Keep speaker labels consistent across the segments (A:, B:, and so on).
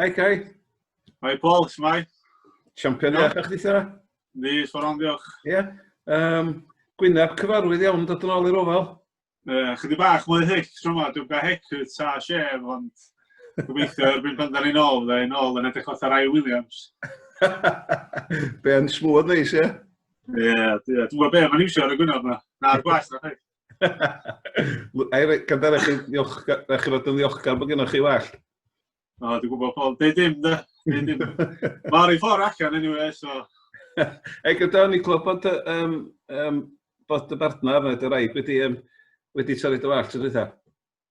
A: Hi, Kai. Hi, Paul.
B: Shmai. Champion iach
A: a'ch dithio? Ni, sforon,
B: diolch. Ie. Yeah. Um,
A: Gwyneb cyfarwydd iawn dod yn ôl i'r ofal. Uh, chydig bach
B: mwy hic, tro ma, dwi'n gael hic hecwyd sa sef, ond gobeithio erbyn pan da ni'n ôl, da ni'n ôl yn edrych fath ar Rai Williams.
A: Be yn smwyd neis, ie? Ie, dwi'n
B: gwybod be, mae'n iwsio ar y gwyneb yma. Na'r gwas, na chi.
A: Gandar, eich chi'n ddiolchgar bod gennych chi well? O, dwi'n gwybod
B: Paul, dweud dim, da. Mae'r un ffordd allan anyway, so... Ei, gyda
A: ni glwb bod, um, um, bod y bartner neu dy raig wedi, um, wedi torri dy wallt, ydw i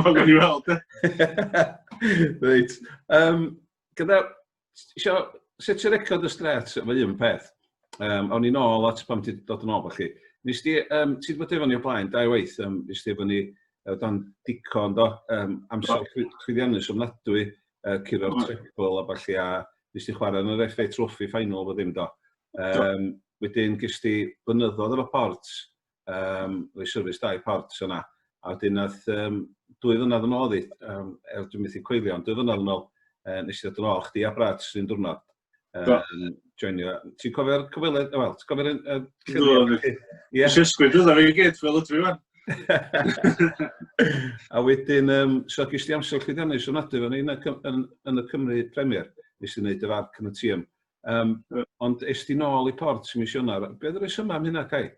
B: Mae'n gael ni weld. Reit.
A: Um, gyda, isio setio record y stret, fe un peth. Um, awn i'n ôl at pam ti'n dod yn ôl chi. Nes ti, um, ti wedi bod efo ni o blaen, dau waith, um, nes ti efo ni o dan dico, do, um, amser chwyddiannus ofnadwy, uh, curo'r treble a falle, a nes ti chwarae yn yr FA Trophy final fod ddim, do. Um, wedyn, gys ti bynyddodd efo port, um, rhoi syrfis dau port yna. A wedyn nath, um, dwy fynad yn ôl i, um, er dwi'n methu coelio, ond dwy fynad yn ôl, uh, nes i ddod yn ôl, chdi a Brad sy'n dwrnod. Um, joinio. Ti'n cofio'r cyfweled, wel, ti'n cofio'r... Dwi'n Nes
B: ysgwyd ydw i gyd fel ydw i fan.
A: a wedyn, um, so gys ti amser chdi ddionis yn adu fan yn, yn, yn y Cymru Premier, nes i wneud y farc yn y tîm. Yym, yy, ond est ti nôl i Port mis Ionawr. Be' oedd y rhesymau am hynna, Cai?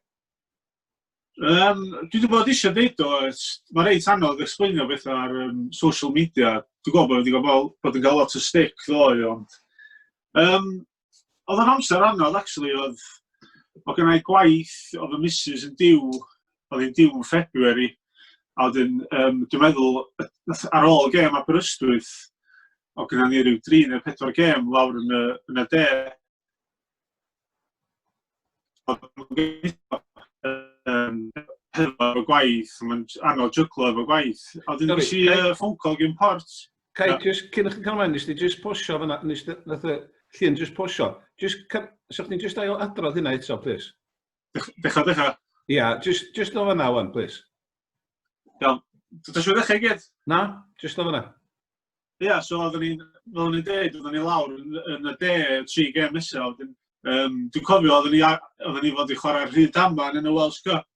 A: Yym,
B: dwi 'di bod eisiau deud o, mae reit anodd explainio bethau ar um, social media. Dwi'n gwybod bod wedi cael bod yn cael lot o stick ddoe, ond... Um, oedd o'n amser anodd, actually, oedd... Oedd gennau gwaith, oedd y missus yn diw, oedd hi'n diw yn February, a wedyn, um, dwi'n meddwl, ar ôl gêm Aberystwyth, o gyda ni rhyw dri neu pedwar gêm lawr yn y, yn y de. Um, hefo gwaith, mae'n anodd jyglo efo gwaith. A wedyn nes i uh, ffôn call gyn port. Cai, yeah. just cyn
A: chi'n cael mlaen, nes ti just posio fyna, nes ti, nath y llun just posio. Just, so chdi'n just ail adrodd hynna eto, please. Decha, decha.
B: Ia, yeah,
A: just, just o fyna wan, please. Iawn.
B: Dwi'n siŵr ddechrau gyd? Na, just o
A: fyna. Ie, yeah,
B: so oeddwn ni'n, fel o'n i'n dweud, oeddwn ni lawr yn, yn y de, tri gem nesaf. Wedyn, um, dwi'n cofio, oeddwn ni, oeddwn ni fod i chwarae rhyd aman yn y Welsh Cup.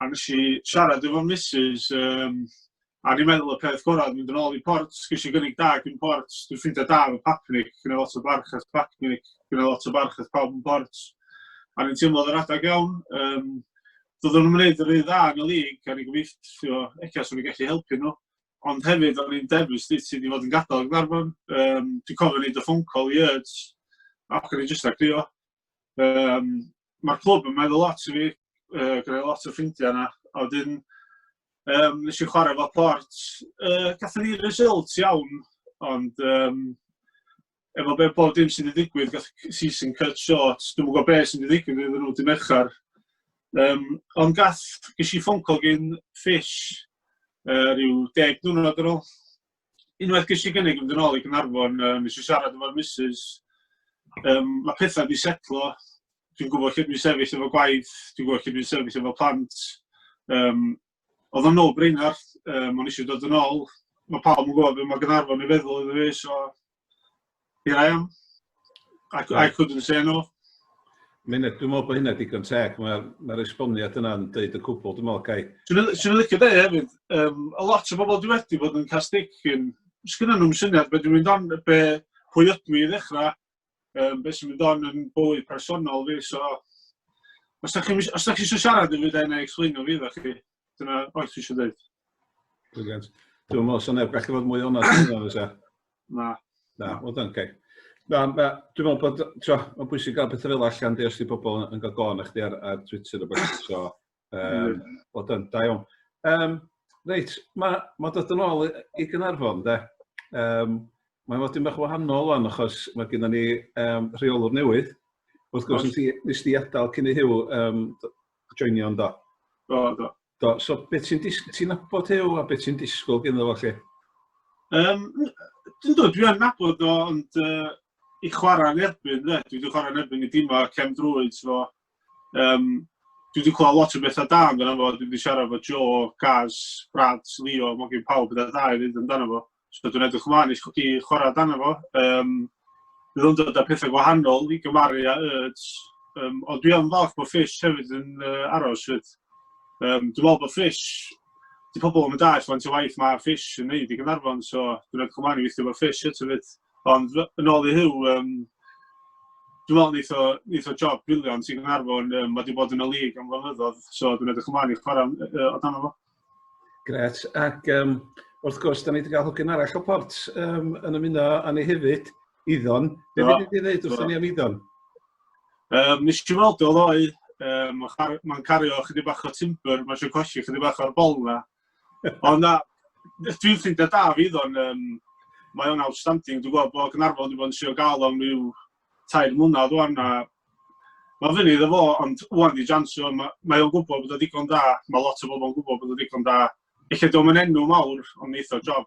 B: A nes i siarad efo Mrs. Um, a ni'n meddwl y peth gorau, mynd yn ôl i port, gys i gynnig da gyn port, dwi'n ffeindio da efo Papnic, gyda lot o barch at Papnic, gyda lot o barch at pawb yn port. A ni'n teimlo yr adeg iawn, um, doeddwn nhw'n gwneud yr un dda yn y lig, a ni'n gobeithio, eich os o'n i'n gallu helpu nhw. ond hefyd o'n i'n dewis dwi ti wedi fod yn gadael Gwarfon. Um, dwi'n cofio ni dy ffôn call i Urge, ac o'n i'n jyst agrio. Um, Mae'r clwb yn meddwl lot i fi, uh, gyda lot o ffrindiau yna, a wedyn um, nes i chwarae fo port. Uh, Gatho ni result iawn, ond um, efo be bob dim sydd wedi digwydd, gath season cut short, dwi'n gwybod beth sydd wedi digwydd iddyn nhw dim merchar. Um, ond gath, ges i ffôn call gyn Fish uh, rhyw deg diwrnod ar ôl. Unwaith ges i gynnig yn ôl i Gynarfon, uh, nes i siarad efo'r missus, um, mae pethau wedi setlo, dwi'n gwybod lle dwi'n sefyll efo gwaith, dwi'n gwybod lle dwi'n sefyll efo plant, um, oedd o'n ôl Breinhart, um, o'n eisiau dod yn ôl, mae pawb yn gwybod beth mae Gynarfon i feddwl iddo fi, so here I am. I, I couldn't say no. Mae'n
A: dwi'n meddwl bod hynna digon teg, mae'r mae esboniad yna'n dweud y cwbl, dwi'n meddwl, Gai. Swn i'n licio dweud
B: hefyd, um, a lot o bobl dwi wedi bod yn cael sticyn, sgynnon nhw'n syniad beth dwi'n mynd on, be, pwy ydw i ddechrau, um, beth sy'n mynd on yn bywyd personol fi, so os da chi eisiau siarad yn fi, da yna explainio fi, da chi, dyna oes fi eisiau dweud. Brilliant.
A: Dwi'n meddwl, so neb gallu fod mwy o'n yna, fysa? Na.
B: Na, o dan,
A: okay. Na, na, dwi'n meddwl bod, ti'n meddwl, mae'n bwysig gael pethau fel allan, di os di pobl yn gael gofyn eich di ar, ar Twitter o beth, so, Um, o dyn, da iawn. Um, reit, mae ma dod yn ôl i Gynarfon, de. Um, mae'n fod yn bach wahanol o'n achos mae gen ni um, rheolwr newydd. Wrth gwrs, nes ti, nes ti adael cyn i Hugh um, joinio yn do. Do, do.
B: Do, so beth
A: ti'n disgwyl, ti'n nabod Hugh a beth ti'n disgwyl gen iddo chi? Um, dwi'n
B: dod, dwi'n nabod o, ond uh, i chwarae yn erbyn, de. Dwi wedi chwarae yn erbyn i dîmau cefn drwyd, so Yym, dwi wedi clywed lot o bethau da amdano fo, dwi wedi siarad efo Joe, Gaz, Brad, Leo, mae gen pawb bethau da i ddweud amdano fo. So dwi'n edrych ymlaen i, i chwarae amdano fo. Um, bydd o'n dod â pethau gwahanol i gymaru â Urds. Um, ond dwi am falch bod Fish hefyd yn uh, aros fyd. Um, dwi'n meddwl bod Fish, di pobl yn mynd all faint o waith mae Fish yn neud i Gynarfon, so dwi'n edrych ymlaen i weithio bod Fish eto fyd. Ond yn ôl i Huw, um, dwi'n meddwl neith o, neith o job briliant sy'n Gynarfon. Um, mae wedi bod yn y lig am flynyddoedd, so dwi'n edrych ymlaen i chwarae uh, o dan fo. Gret.
A: Ac um, wrth gwrs, da ni wedi cael hogyn arall o port um, yn ymuno â ni hefyd, Iddon. Be no. wedi dweud wrth no. ni am Iddon? Um,
B: nes i weld o ddoi, um, mae'n cario chydig bach o timber, mae'n siw cosi chydig bach o'r bol na. Ond na, dwi'n ffrindiau da fi ddo'n, um, mae o'n outstanding. Dwi'n gweld bod Gynarfon wedi bod yn sio gael o'n rhyw tair mlynedd o'n a mae fyny iddo fo, ond wwan di jansio, mae, mae o'n gwybod bod o digon da, mae lot o bobl yn gwybod bod o digon da. Felly dwi'n mynd enw mawr, ond neitho job.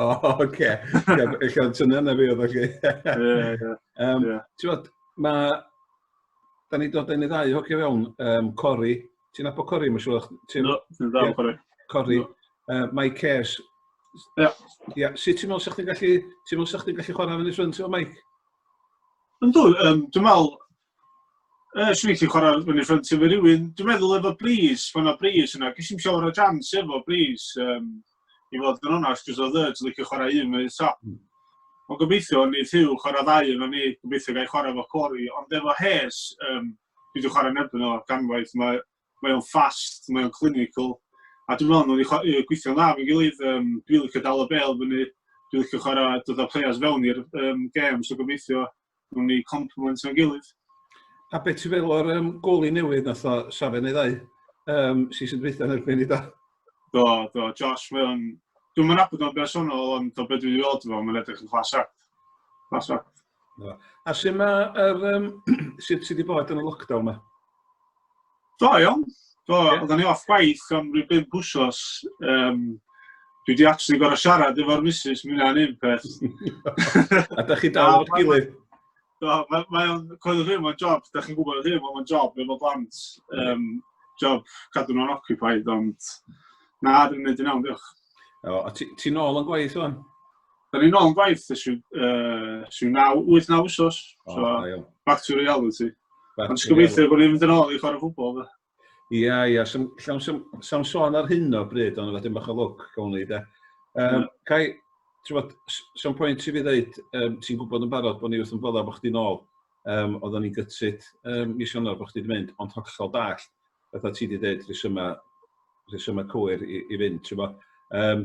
B: O, oce.
A: Eich o'n tyna na fi oedd o'r Ie,
B: ie. Ti'n gwybod,
A: mae... Da ni dod yn ei ddau hocio fewn, um, Cori. Ti'n abo Cori, mae'n siŵr? Ti'n ddal Cori.
B: Cori. Uh,
A: Mike Cares. Ie. Ie. Sut ti'n meddwl sa'ch ti'n gallu... Ti'n meddwl sa'ch ti'n gallu chwarae fan y ffrind efo Mike? Ynddo,
B: um, dwi'n meddwl, Yy, swn i'n gallu chwarae fyny ffrynt efo rhywun. Dwi'n meddwl efo Breeze, pan o Breeze yna, ges i'n siawr o jans efo Breeze. Um, I fod yn onast, jyst oedd Urge licio chwarae un yn top. Hmm. Ond gobeithio, ni Hugh chwarae ddau yna ni, gobeithio gael chwarae efo Cori. Ond efo Hes, um, dwi wedi chwarae nebyn o ganwaith, mae mae o'n fast, mae o'n clinical, a dwi'n meddwl nhw'n wedi yy gweithio'n dda efo'n gilydd, um, dwi'n licio dal y bel fyny, dwi'n licio chwarae dod â players fewn i'r um, gêm, so gobeithio nhw'n ni complement o'n gilydd. A beth ti'n
A: feddwl o'r um, goli newydd nath o Safen ei ddau, um, sy'n sy'n dweithio'n erbyn i da? Do, do,
B: Josh, mae o'n... Dwi'n mynd abod o'n bersonol, ond o beth dwi'n ei weld efo, mae'n edrych yn class act. Class act. Na. A
A: sy'n ma yr, um, sydd sy wedi bod yn y lockdown ma? Do,
B: iawn. Do, yeah. oedden ni off gwaith am rhyw bimp wsos. Um, dwi wedi actually gorau siarad efo'r misus, mi wna'n un peth. a
A: da chi dal o'r gilydd? Do, mae'n
B: ma, ma coelio hyn, mae'n job, da chi'n gwybod hyn, mae'n job efo blant. Um, job cadw nhw'n occupied, ond na, dwi'n mynd i'n iawn, diolch. O, a
A: ti'n ôl yn gwaith o'n? Da ni'n
B: ôl yn gwaith, ys yw, uh, yw 8-9 wsos. Oh, so, ayo. back to reality. Back Ond gobeithio bod ni'n mynd yn ôl i chwarae
A: ffwbol. Ie, ia, ia. Sam sôn ar hyn o bryd, ond wedyn bach o lwc, gawn ni, de. Um, Cai, ti'n bod, sam pwynt i fi ddeud, um, ti'n gwybod yn barod bod ni wrth yn fodda bod chdi'n ôl. Um, Oedden ni'n gytsid um, mis Ionawr bod chdi'n mynd, ond hollol dall, fatha ti wedi dweud, rhesymau, rhesymau cywir i, i fynd, ti'n bod. Um,